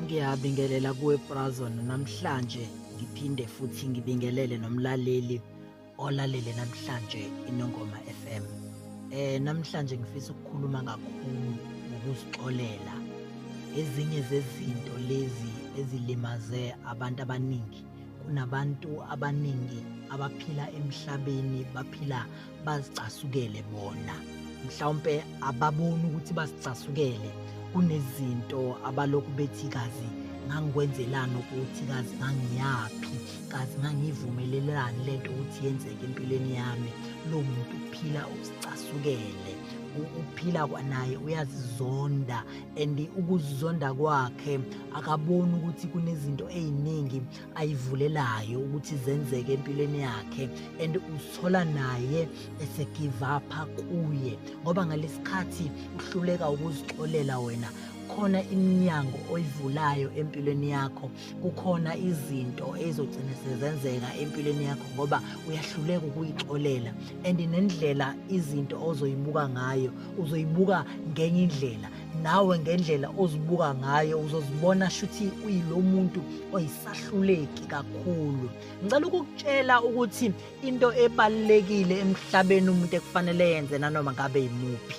ngiyabingelela kuwe Brazon namhlanje ngiphinde futhi ngibingelele nomlaleli olalele namhlanje inongoma FM eh namhlanje ngifisa ukukhuluma kakhulu ngokusixolela ezinye zezinto lezi ezilimaze abantu abaningi kunabantu abaningi abaphila emhlabeni baphila bazicasukele bona mhlawumpe ababoni ukuthi basicasukele kunezinto abalokhu bethi kazi ngangikwenzelani ukuthi kazi ngangiyaphi kazi ngangivumelelelani le nto ukuthi yenzeke empilweni yami lo muntu uphila uzicasukele uphila kwanaye uyazizonda and ukuzizonda kwakhe akaboni ukuthi kunezinto eziningi ayivulelayo ukuthi zenzeke empilweni yakhe and usithola naye ese give up kuye ngoba ngalesikhathi uhluleka ukuzixolela wena khona iminyango oyivulayo empilweni yakho kukhona izinto ezogcina sezenzeka empilweni yakho ngoba uyahluleka ukuyixolela and nendlela izinto ozoyibuka ngayo uzoyibuka ngenye indlela nawe ngendlela ozibuka ngayo uzozibona shuthi uyilo muntu oyisahluleki kakhulu ngicela ukukutshela ukuthi into ebalulekile emhlabeni umuntu ekufanele yenze nanoma ngabe yimuphi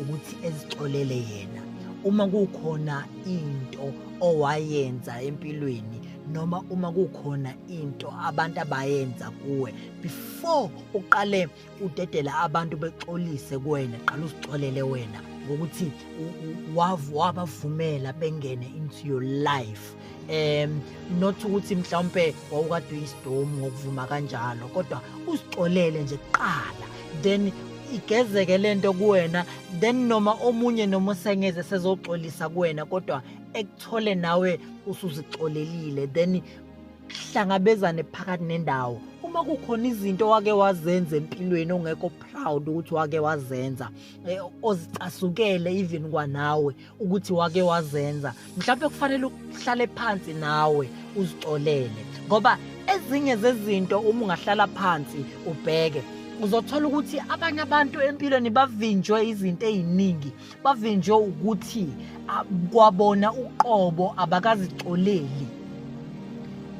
ukuthi ezixolele yena uma kukhona into owayenza empilweni noma uma kukhona into abantu abayenza kuwe before uqale udedela abantu bexolise kuwena qala uzixolele wena ngokuthi wabavumela bengene into your life um not ukuthi mhlawumpe wawukade uyisidomu ngokuvuma kanjalo kodwa usixolele nje kuqala then igezeke le nto kuwena then noma omunye noma usengeze sezoxolisa kuwena kodwa ekuthole nawe usuzixolelile then hlangabezane phakathi nendawo uma kukhona izinto wake wazenza empilweni ongekho proud ukuthi wake wazenza eh, ozicasukele even kwanawe ukuthi wake wazenza mhlawumbe kufanele uhlale phansi nawe uzixolele ngoba ezinye zezinto uma ungahlala phansi ubheke uzothola ukuthi abanye abantu empilweni bavinjwe izinto eziningi bavinjwe ukuthi kwabona uqobo abakazixoleli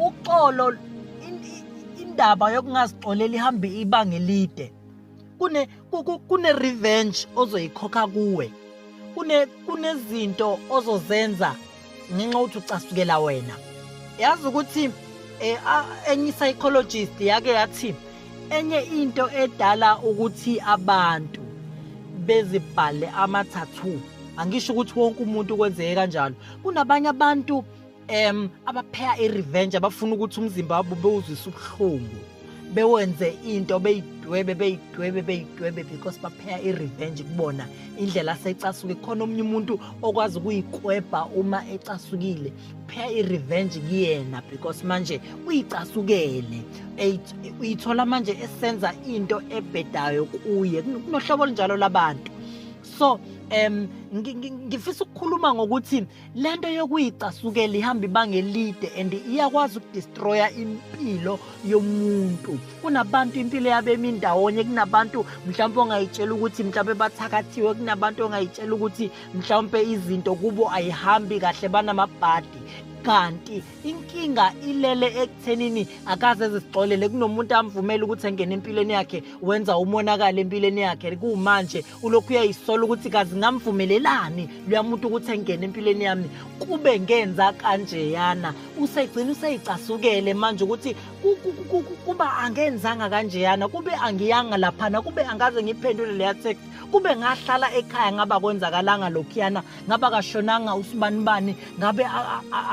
uxolo indaba yokungazixoleli ihambe ibanga elide kune kune revenge ozoyikhokha kuwe kune kunezinto ozozenza ngenxa ukuthi ucasukela wena yazi ukuthi eh, enye i-psychologist yake yathi enye into edala ukuthi abantu bezibhale amathathu angisho ukuthi wonke umuntu kwenzeke kanjalo kunabanye abantu em abapheya i-revenge abafuna ukuthi umzimba wabo bewuzwise ubuhlungu bewenze into beyidwebe beyidwebe beyidwebe because bapheya i-revenge kubona indlela asecasuke khona omunye umuntu okwazi ukuyikwebha uma ecasukile pheya i-revenge kuyena because manje uyicasukele uyithola manje esenza into ebhedayo kuye kunohlobo olunjalo labantu so um ngifisa ukukhuluma ngokuthi le nto yokuyicasukela ihamba ibanga elide and iyakwazi ukudistroya impilo yomuntu kunabantu impilo yabo emindawonye kunabantu mhlawumpe ongayitshela ukuthi mhlawumpe bathakathiwe kunabantu ongayitshela ukuthi mhlawumpe izinto kubo ayihambi kahle banamabhadi kanti inkinga ilele ekuthenini akaze ezixolele kunomuntu amvumela ukuthi engene empilweni yakhe wenza umonakalo empilweni yakhe kuwumanje ulokhu uyayisola ukuthi kazi ngamvumelelani luyamuntu ukuthi engene empilweni yami kube ngenza kanjeyana usegcina useyicasukele manje ukuthi kuba angenzanga kanjeyana kube angiyanga laphana kube angaze ngiphendule leya text kube ngahlala ekhaya ngaba kwenzakalanga lokhuyana ngaba kashonanga usibanibani ngabe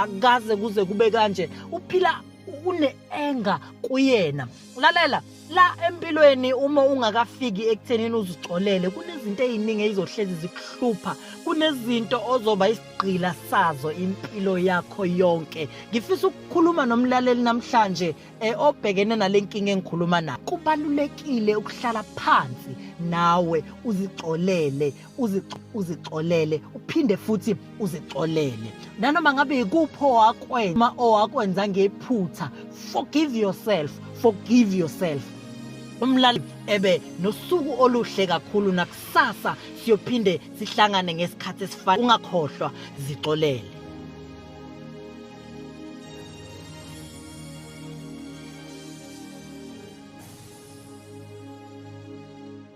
akaze kuze kube kanje uphila une-enga kuyena lalela la empilweni uma ungakafiki ekuthenini uzixolele kunezinto eziningi ezizohlezi zikuhlupha kunezinto ozoba isigqila sazo impilo yakho yonke ngifisa ukukhuluma nomlaleli namhlanje eh, obhekene nale nkinga engikhuluma nayo kubalulekile ukuhlala phansi nawe uzixolele uzixolele uphinde futhi uzixolele nanoma ngabe yikuphi owakwenza uma owakwenza ngephutha forgive yourself forgive yourself umlali ebe nosuku oluhle kakhulu nakusasa siyophinde sihlangane ngesikhathi esifana ungakhohlwa zixolele